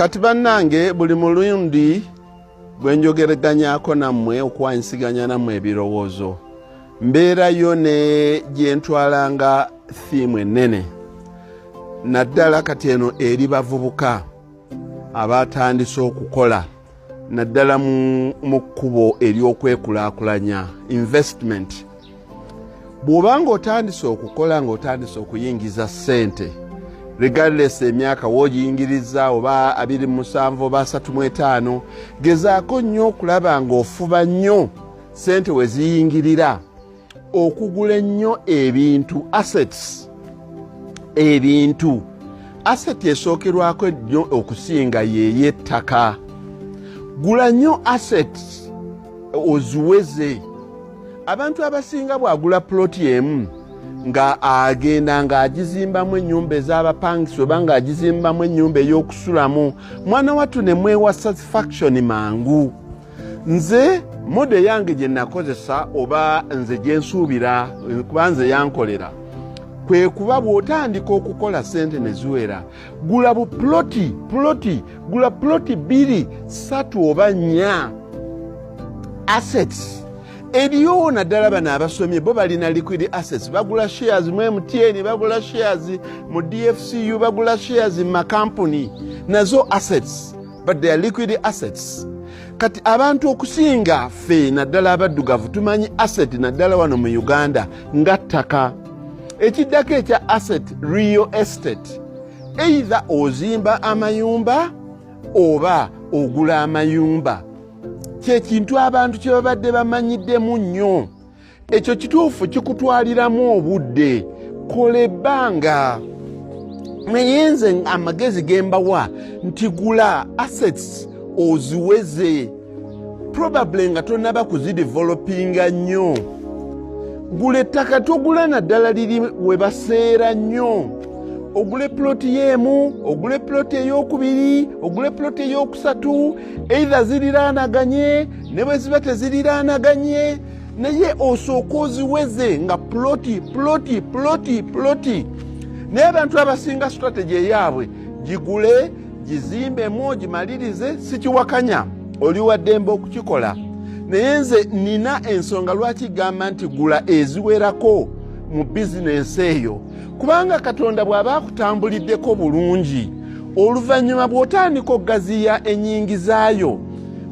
kati bannange buli mulundi bwe njogereganyako nammwe okuwanyisiganya nammwe ebirowoozo mbeerayo ne gye ntwalanga thiimu ennene naddala kati eno eri bavubuka abaatandise okukola naddala mu kkubo ery'okwekulaakulanya investment bw'oba ng'otandise okukola ng'otandise okuyingiza ssente regardless emyaka wogiyingiriza oba abiri musanvu oba asatu mu etaano gezaako nnyo okulaba ng'ofuba nnyo ssente we ziyingirira okugula ennyo ebintu assets ebintu aseti esookerwako ennyo okusinga yeeyo ettaka gula nnyo assets oziweze abantu abasinga bwagula puloti emu nga agenda ng'agizimbamu ennyumba ez'abapangisa oba ng'agizimbamu ennyumba ey'okusulamu mwana wattu ne mwewa satisfaction mangu nze modo eyange gye nakozesa oba nze gye nsuubira kuba nze yankolera kwe kuba bw'otandika okukola sente ne ziwera gula bu puloti puloti gula puloti bbiri satu oba nnya assets eriyo naddala bano abasomye bo balina liquid assets bagula shares mu mtn bagula shares mu dfcu bagula shares mu makampuni nazo assets but they are liquid assets kati abantu okusinga fe naddala abaddugavu tumanyi asset naddala wano mu uganda nga ttaka ekiddako ekya asset real estate eitha ozimba amayumba oba ogula amayumba kyekintu abantu kyebabadde bamanyiddemu nnyo ekyo kituufu kikutwaliramu obudde kola ebbanga naye nze amagezi gembawa nti gula assets oziweze probably nga tonaba kuzidevelopinga nnyo gula ettaka togula naddala liri we baseera nnyo ogule ploti yeemu ogule ploti eyokubiri ogule ploti eyokusatu eitha ziriraanaganye ne bwe ziba teziriraanaganye naye osooka oziweze nga ploti ploti ploti ploti naye abantu abasinga strategy eyaabwe gigule gizimbemu gimalirize sikiwakanya oli waddembe okukikola naye nze nina ensonga lwaki gamba nti gula eziwerako mu bizinensi eyo kubanga katonda bw'aba akutambuliddeko bulungi oluvannyuma bw'otandika okugaziya ennyingizaayo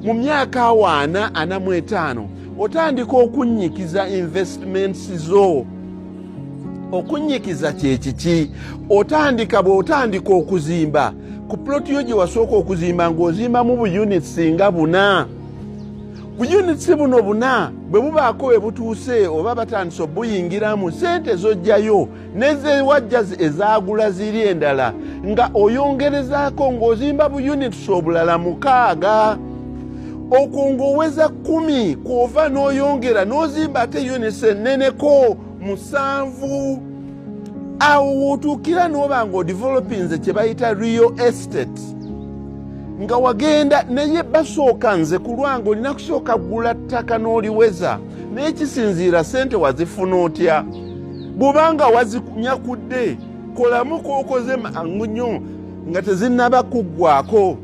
mu myaka awaana ana mu etaano otandika okunnyikiza investments zo okunnyikiza kyekiki otandika bw'otandika okuzimba ku ploti yo gye wasooka okuzimba ng'ozimbamu buyunits nga buna buyunits buno buna bwe bubaako we butuuse oba batandise obuyingiramu sente zojjayo nezewajjazi ezagula ziri endala nga oyongerezaako ng'ozimba bu units obulala mukaaga okwo ng'oweza kumi kwova n'oyongera n'ozimba ate units enneneko musanvu awo wotuukira n'oba nga odivelopinze kye bayita real estate nga wagenda naye basooka nze kulwanga olina kusooka gula ttaka n'oliweza naye kisinziira sente wazifuna otya bwobanga wazinyakudde kolamu kokoze mangu nnyo nga tezinaba kuggwako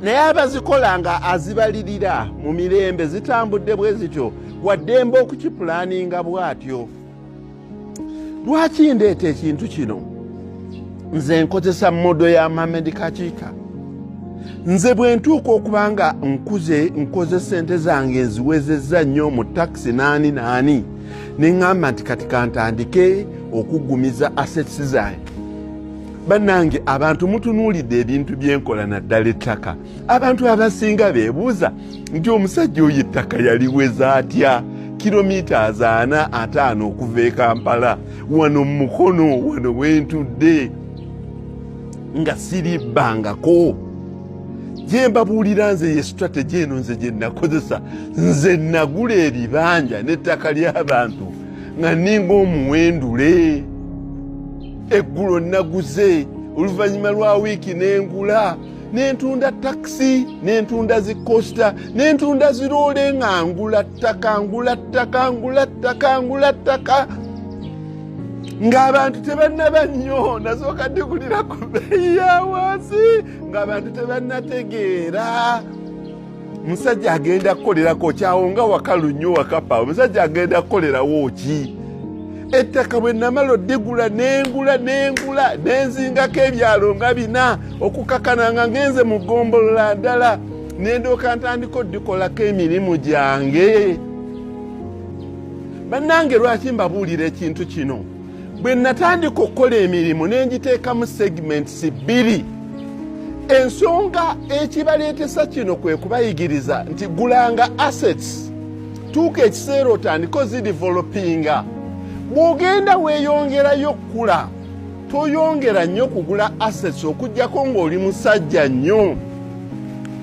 naye abazikola nga azibalirira mu mirembe zitambudde bwe zityo waddembe okukipulaninga bwatyo lwaki ndeeta ekintu kino nze nkozesa modo ya mamed kakiika nze bwe ntuuka okuba nga nkuze nkoze sente zange nziwezezza nnyo mu takisi naani naani ne ŋŋamba nti kati kantandike okuggumiza assets zange bannange abantu mutunuulidde ebintu byenkola naddala ettaka abantu abasinga bebuuza nti omusajja oyo ettaka yaliweza atya kilomita azaana ataano okuva e kampala wano mumukono wano wentudde nga siribbangako gye mbabuulira nze ye strategy eno nze gye nakozesa nze nagula ebibanja n'ettaka ly'abantu nga ninga omuwendule eggulo naguze oluvannyuma lwa wiiki n'engula nentunda takisi nentunda zikosta nentunda ziroole nga ngula ttaka ngula ttaka ngula ttaka ngula ttaka ng'abantu tebannaba nnyo nasooka ndikulira ku beeyi ya wansi ng'abantu tebannategeera musajja agenda kukolerako kyawonga wakalu nnyo wakapa omusajja agenda kukolerawo ki ettaka bwe namala odigula nengula nengula nenzingako ebyalo nga bina okukakana nga ngenze mu gombolola ndala nendooka ntandika odikolako emirimu gyange bannange lwaki mbabuulira ekintu kino bwe natandika okukola emirimu ne ngiteekamu segments bbiri ensonga ekibaleetesa kino kwe kubayigiriza nti gulanga assets tuuka ekiseera otandika ozidevelopinga bw'ogenda weeyongerayo okukula toyongera nnyo kugula assets okugyako ng'oli musajja nnyo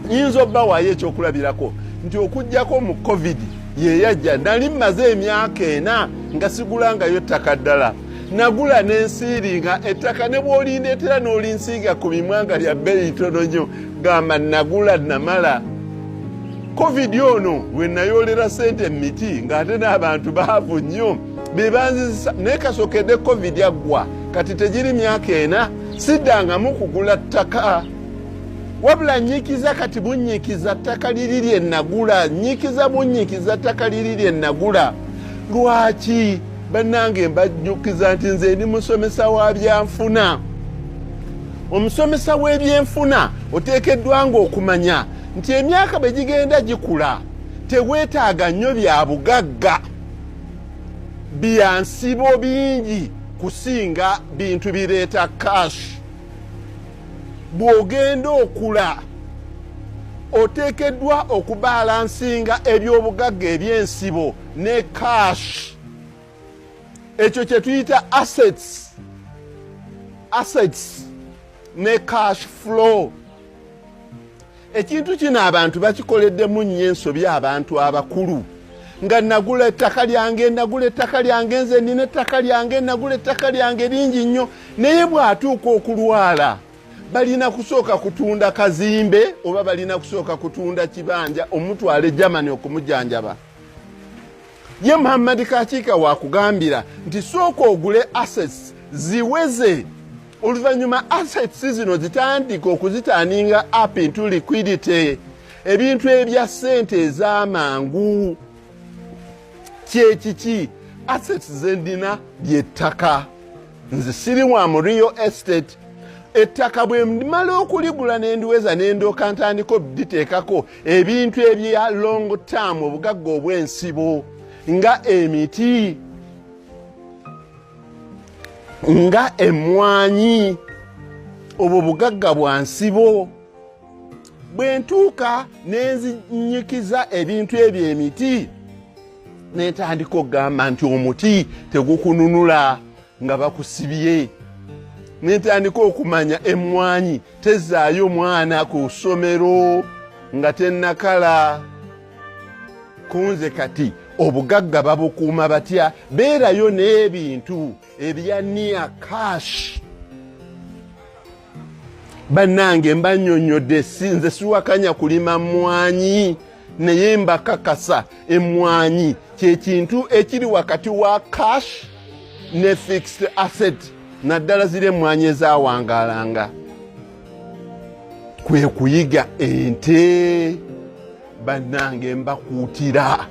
nyinza obba waayo ekyokulabirako nti okugyako mu covid yeyajja nali mmaze emyaka ena nga sigulangayo ttaka ddala nagula nensiiringa ettaka ne bwolindeetera n'olinsiiga ku mimwanga lya bbeeyi tono nyo gamba nagula namala covid ono we nayoolera sente mu miti ng'ate n'abantu baavu nnyo be banzizisa naye kasokedde covid aggwa kati tegiri myaka ena siddangamu kugula ttaka wabula nyikiza kati bunyikiza ttaka liri lye nagula nyikiza bunyikiza ttaka liri lye nagula lwaki bannange mbajjukiza nti nze ndi musomesa wa byanfuna omusomesa w'ebyenfuna oteekeddwa nga okumanya nti emyaka bwe gigenda gikula teweetaaga nnyo bya bugagga byansibo bingi kusinga bintu bireeta kashi bw'ogenda okula oteekeddwa okubaalansinga eby'obugagga eby'ensibo ne cash ekyo kye tuyita assets assets ne cash flow ekintu kino abantu bakikoleddemu nnyo ensobi abantu abakulu nga nagula ettaka lyange nagula ettaka lyange nze nina ettaka lyange nagula ettaka lyange lingi nnyo naye bw'atuuka okulwala balina kusooka kutunda kazimbe oba balina kusooka kutunda kibanja omutwale germany okumujanjaba ye muhammadi kakiika wakugambira nti sooka ogule assets ziweze oluvannyuma assets zino zitandika okuzitaninga up into liquidity ebintu ebya ssente ez'amangu kyekiki assets zendina lyettaka nze siri wa mu real estate ettaka bwe mmala okuligula nendiweza nendooka ntandika obditeekako ebintu ebya long term obugagga obw'ensibo nga emiti nga emmwanyi obwo bugagga bwa nsibo bwe ntuuka ne nzinyikiza ebintu ebyo emiti netandika okugamba nti omuti tegukununula nga bakusibye nentandika okumanya emmwanyi tezaayo mwana ku ssomero nga tennakala kunze kati obugagga babukuuma batya beerayo n'ebintu ebya niya kashi bannange mbanyonyodde si nze siwakanya kulima mmwanyi naye mbakakasa emmwanyi kyekintu ekiri wakati wa cash ne fixed asset naddala ziri emmwanyi ezawangalanga kwe kuyiga ente bannange mbakuutira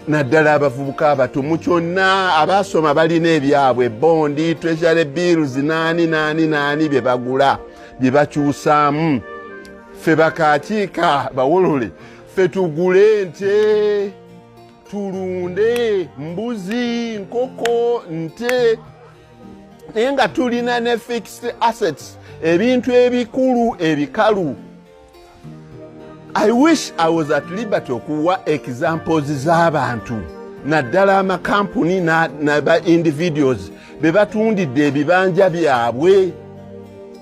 naddala abavubuka abato mu kyonna abaasoma balina ebyabwe bondi treasury bills naani naani naani bye bagula bye bakyusaamu ffe bakakiika bawolole ffe tugule nte tulunde mbuzi nkoko nte naye nga tulina ne fixed assets ebintu ebikulu ebikalu I wish I was at liberty okuwa examples z'abantu naddala amakampuni naba individuals be batundidde ebibanja byabwe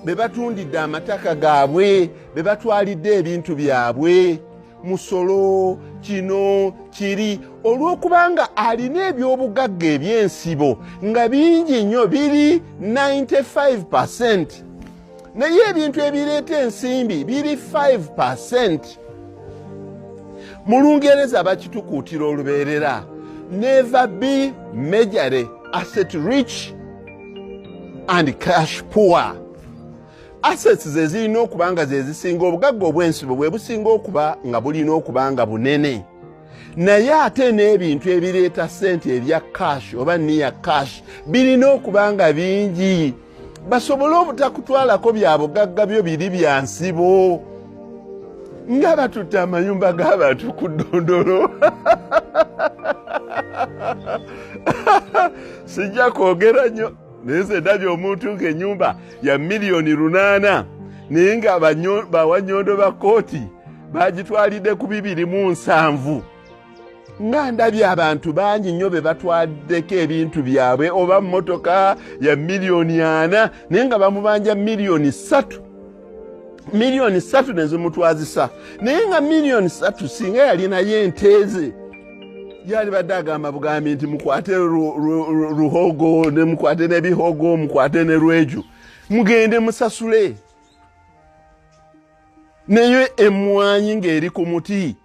be batundidde amataka gaabwe be batwalidde ebintu byabwe musolo kino kiri olw'okubanga alina ebyobugagga eby'ensibo nga bingi nnyo biri 95 percent naye ebintu ebireeta ensimbi biri 5 percent mu lungereza bakitukuutira olubeerera never be majore asset rich and cash poor assets zezirina okuba nga zezisinga obugagga obwensibo bwe businga okuba nga bulina okuba nga bunene naye ate n'ebintu ebireeta ssente ebya cash oba niya cash birina okuba nga bingi basobole obutakutwalako bya bugagga byo biri bya nsibo nga batutte amayumba g'abantu ku ddondolo sijja kwogera nnyo naye nze ndabye omuntu ng'ennyumba ya miliyoni lunaana naye nga bawanyondo ba kooti bagitwalidde ku bibiri mu nsanvu ba nga ndabye abantu bangi nnyo be batwaddeko ebintu byabwe oba mmotoka ya miliyoni ana naye nga bamubanja miliyoni ssatu miliyoni ssatu ne zimutwazisa naye nga miliyoni ssatu singa yalinayo enteeze yali badde agamba bugambi nti mukwate ruhogo ne mukwate nebihogo mukwate ne rweju mugende musasule naye emmwanyi ng'eri ku muti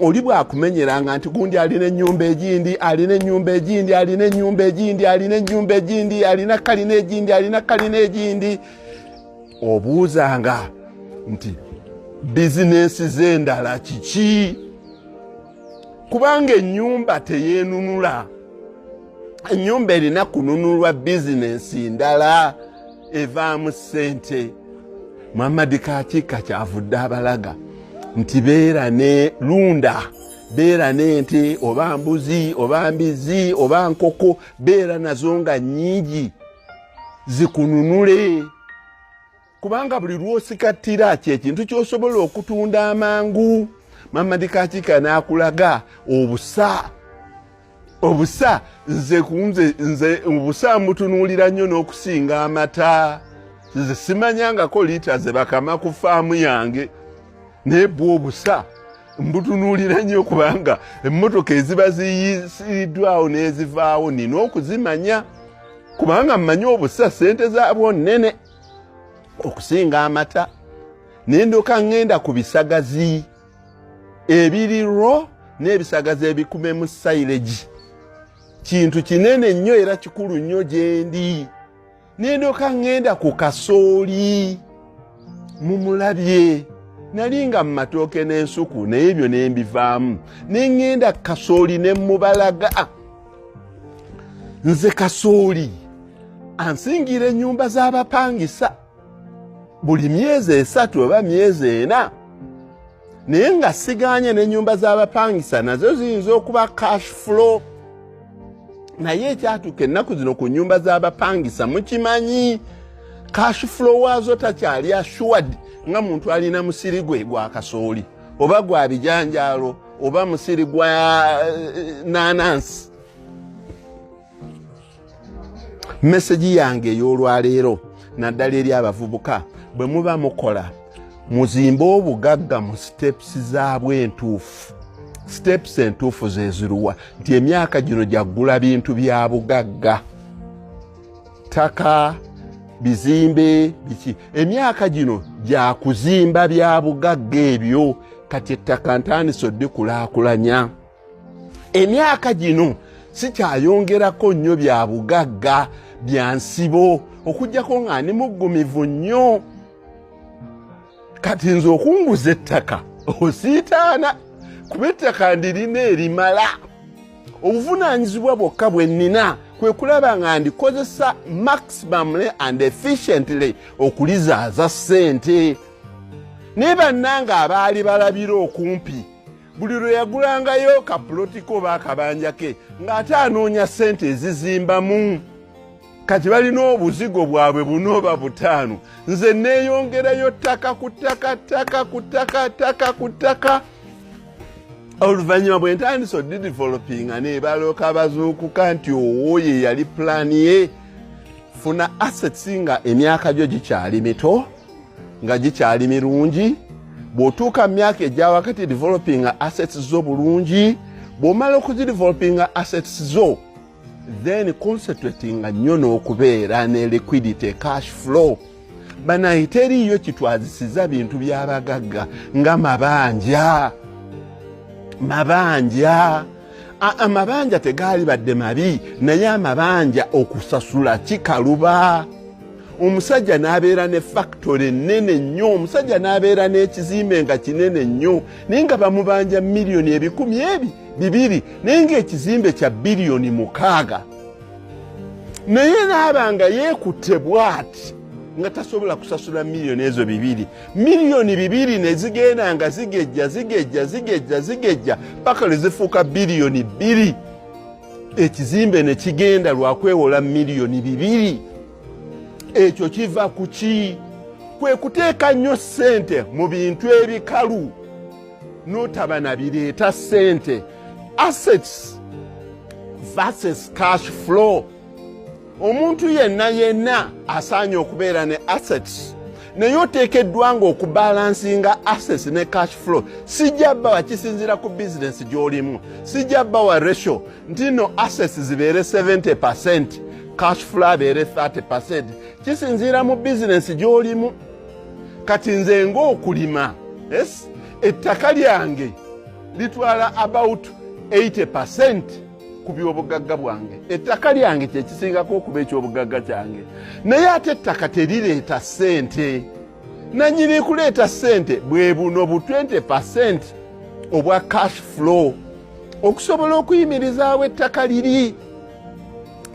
oli bwakumenyeranga nti gundi alina enyumba egindi alina enyumba egindi alina enyumba egindi alina enyumba egindi alina kalina egindi alina kalina egindi obuuzanga nti bizinensi zendala kiki kubanga enyumba teyenunula enyumba erina kununulwa bizinensi ndala evaamu ssente muhammadi kakiika kyavudde abalaga nti beera ne lunda beera n'ente oba mbuzi oba mbizi oba nkoko beera nazo nga nnyingi zikununule kubanga buli lwosikattira kyekintu kyosobola okutunda amangu mamadikakiika n'akulaga obusa obusa nze kunze nze obusa mbutunuulira nnyo n'okusinga amata nze simanyangako liita ze bakama ku faamu yange naye bwa obusa mbutunuulira nnyo kubanga emmotoka eziba ziyisiriddwawo n'ezivaawo nina okuzimanya kubanga mmanyi obusa ssente zaabwo nnene okusinga amata nendoka ŋŋenda ku bisagazi ebiri ro n'ebisagazi ebikume mu silage kintu kinene nnyo era kikulu nnyo gyendi nendoka ŋŋenda ku kasooli mumulabye nali nga mu matooke n'ensuku naye ebyo ne mbivaamu ne ŋŋenda ku kasooli ne mubalaga nze kasooli ansingira ennyumba z'abapangisa buli myezi esatu oba myezi ena naye nga siganye nenyumba zabapangisa nazo ziyinza okuba cash flow naye ekyatuuka ennaku zino ku nyumba zabapangisa mukimanyi cash flow waazo takyali assured nga muntu alina musiri gwe gwa kasooli oba gwa bijanjaalo oba musiri gwa eh, nanansi mesegi yange ey'olwaleero naddala eri abavubuka bwe muba mukola muzimbe obugagga mu sitepusi zaabwo entuufu sitepusi entuufu zeziruwa nti emyaka gino gyaggula bintu bya bugagga ttaka bizimbe biki emyaka gino gyakuzimba bya bugagga ebyo kati ettaka ntandise oddikulaakulanya emyaka gino sikyayongerako nnyo bya bugagga bya nsibo okujjako nga ndi muggumivu nnyo kati nze okunguza ettaka osiitaana kuba ettaka ndirina erimala obuvunaanyizibwa bwokka bwe nnina kwe kulaba nga ndikozesa maximumly and efficiently okulizaaza ssente naye bannanga abaali balabira okumpi buli lwe yagulangayo kapulotiko oba akabanja ke ng'ate anoonya ssente ezizimbamu kati balina obuzigo bwabwe bunooba butaano nze neeyongerayo ttaka ku ttaka ttaka ku ttaka ttaka ku ttaka oluvannyuma bwe ntandisa odidevelopinga nebalooka bazuukuka nti owo ye yali pulaani ye funa assets nga emyaka gyo gikyali mito nga gikyali mirungi bw'otuuka mu myaka egya wakati developinga assets zo bulungi bw'omala okuzidevelopinga assets zo then concentratinga nnyo n'okubeera ne liquidity cash flow banaye teriiyo kitwazisiza bintu byabagagga nga mabanja mabanja amabanja tegaali badde mabi naye amabanja okusasula kikaluba omusajja n'abeera ne fakitole ennene nnyo omusajja n'abeera n'ekizimbe nga kinene nnyo naye nga bamubanja miliyoni ebikumi ebi bibiri naye ng'ekizimbe kya biliyoni mukaaga naye n'aba nga yeekutte bwati nga tasobola kusasula miliyoni ezo bibiri miliyoni bibiri ne zigenda nga zigejja zigejja zigejja zigejja paka lwe zifuuka biliyoni bbiri ekizimbe ne kigenda lwa kwewola miliyoni bibiri ekyo kiva ku ki kwe kuteeka nnyo ssente mu bintu ebikalu n'otaba na bireeta ssente assets versus cash flow omuntu yenna yenna asaanye okubeera ne assets naye oteekeddwa nga okubalansinga assets ne cash flow sijja bawa kisinziira ku bizinesi gy'olimu sijja bawa ratio nti no assets zibeere 70 percent cash flow abeere 30 percent kisinziira mu bizinesi gy'olimu kati nze ngaokulima es ettaka lyange litwala about 80 percent ku byobugagga bwange ettaka lyange kyekisingako okuba ekyobugagga kyange naye ate ettaka terireeta ssente nanyini kuleeta ssente bwe buno bu 20 percent obwa cash flow okusobola okuyimirizaawo ettaka liri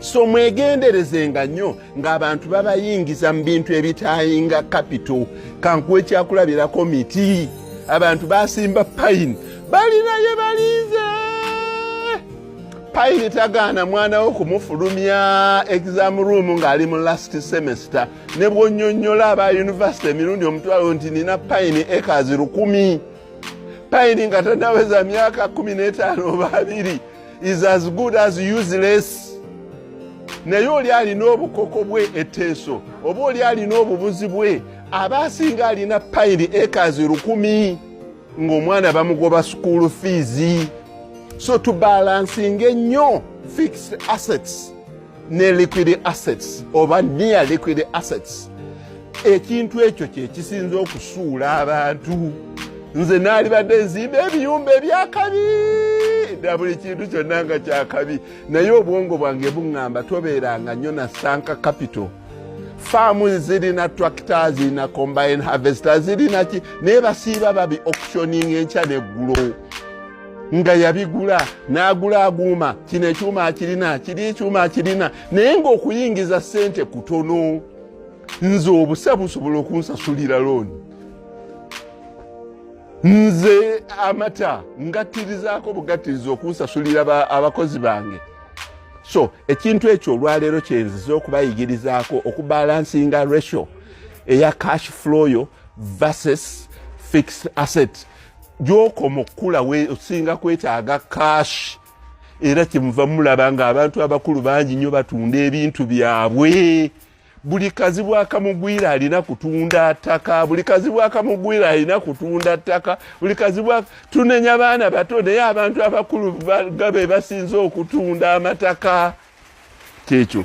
so mwegenderezenga nnyo ng'abantu babayingiza mu bintu ebitaayinga kapito kankuwa ekyakulabirako miti abantu basimba payini balina ye balinze payini tagaana mwana wo kumufulumya exam room ng'ali mu last semester ne bwonyonyola aba yunivasite emirundi omutwalo nti nina payini ekazi lukumi payini nga tanaweza myaka kumi n'etaano oba abiri is as good as useless naye oli alina obukoko bwe eteeso oba oli alina obubuzi bwe aba asinga alina payiri ekazi lukumi ng'omwana bamugoba sukuulu fiizi so tubalansinga ennyo fixed assets ne liquid assets oba near liquid assets ekintu ekyo kyekisinza okusuula abantu nze naalibadde nzimba ebiyumba ebyakabi na buli kintu kyonna nga kyakabi naye obwongo bwange buŋŋamba tobeeranga nnyo na sanka capital faamu zirina tractor zirina combine harvester zirinaki naye basiiba babi auctioning enkya neggulo nga yabigula n'agula aguuma kino ekyuma akirina kiri ekyuma akirina naye ng'okuyingiza ssente kutono nze obusa busobola okunsasulira looni nze amata ngattirizaako bugattiriza okunsasulira abakozi bange so ekintu ekyo olwaleero kyenziza okubayigirizaako okubalansinga ratio eya cash flow yo versus fixed asset gyokoma okukula osinga kwetaaga kaashi era kyemuva mulaba nga abantu abakulu bangi nnyo batunda ebintu byabwe buli kazibu akamugwira alina kutunda ttaka buli kazibu akamugwira alina kutunda ttaka buli kazibu tunenya baana bato naye abantu abakulu gabe basinze okutunda amataka kyekyo